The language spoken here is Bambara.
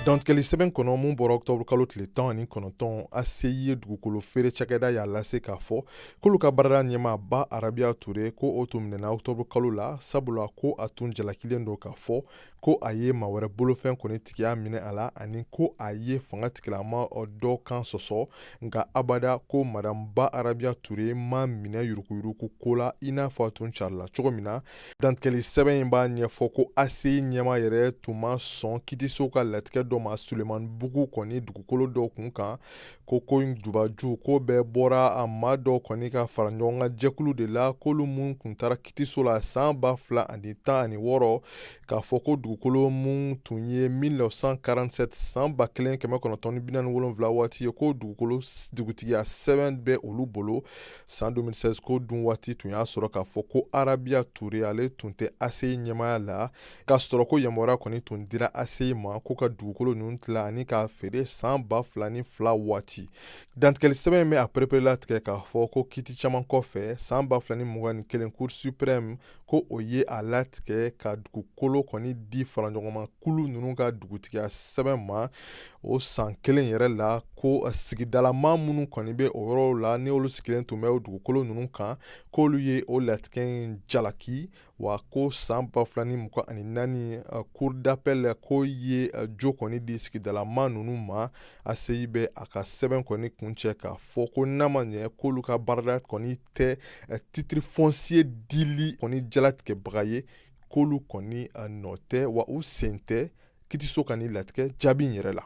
dantigɛli sɛbɛn kɔnɔ mun bɔra octobre kalo tile tan ani kɔnɔntɔn ACI ye dugukolo feere cakɛda y'a lase k'a fɔ k'olu ka baarada ɲɛmaa ba arabiya ture ko o tun minɛna octobre kalo la sabula ko a tun jalakilen don k'a fɔ ko a ye maa wɛrɛ bolofɛn kɔni tigiya minɛ a la ani ko a ye fanga tigilama dɔ kan sɔsɔ nka abada ko madame ba arabiya ture ma minɛ yuruguyurugu ko la i n'a fɔ a tun carila cogo min na dantigɛli sɛbɛn in b'a ɲɛfɔ ko ACI ɲɛmaa yɛrɛ tun ma sɔn kitiso ka latigɛ dɔ ma sulemanbugu kɔni dugukolo dɔ kun kan ko ko in jubaju ko bɛɛ bɔra a maa dɔw kɔni ka faraɲɔgɔnkan jɛkulu de la k'olu minnu tun taara kitiso la san ba fila ani tan ani wɔɔrɔ k'a fɔ ko dugukolo minnu tun ye 1947 san ba kelen kɛmɛ kɔnɔntɔn ni binaani wolonwula waati ye ko dugutigiya sɛbɛn bɛ olu bolo san 2016 ko dun waati tun y'a sɔrɔ k'a fɔ ko arabiya ture ale tun tɛ ACI ɲɛmaaya la k'a sɔrɔ ko yamaruya kɔni tun dira ACI ma ko ka dugukolo ninnu tila ani k'a feere san ba fila ni fila waati dantigɛli sɛbɛn bɛ a pereperela tigɛ k'a fɔ ko kiti caman kɔfɛ san ba fila ni mugan ni kelen cour suprême ko o ye a latigɛ ka dugukolo kɔni di faraɲɔgɔnma kulu ninnu ka dugutigiya sɛbɛn ma o san kelen yɛrɛ la ko sigidalamaa minnu kɔni bɛ o yɔrɔw la n'olu sigilen tun bɛ o dugukolo ninnu kan k'olu ye o latigɛ in jalaki wa ko san ba fila ni mugan ani naani uh, cour d'appel ko ye uh, jo kɔni di sigidalamaa nunu ma ACI bɛ a ka sɛbɛn kɔni kuncɛ k'a fɔ ko n'a ma ɲɛ k'olu ka baarada kɔni tɛ uh, titre foncier dili kɔni jalatigɛbaga ye k'olu kɔni uh, nɔ tɛ wa u sen tɛ kitiso ka nin latigɛ jaabi in yɛrɛ la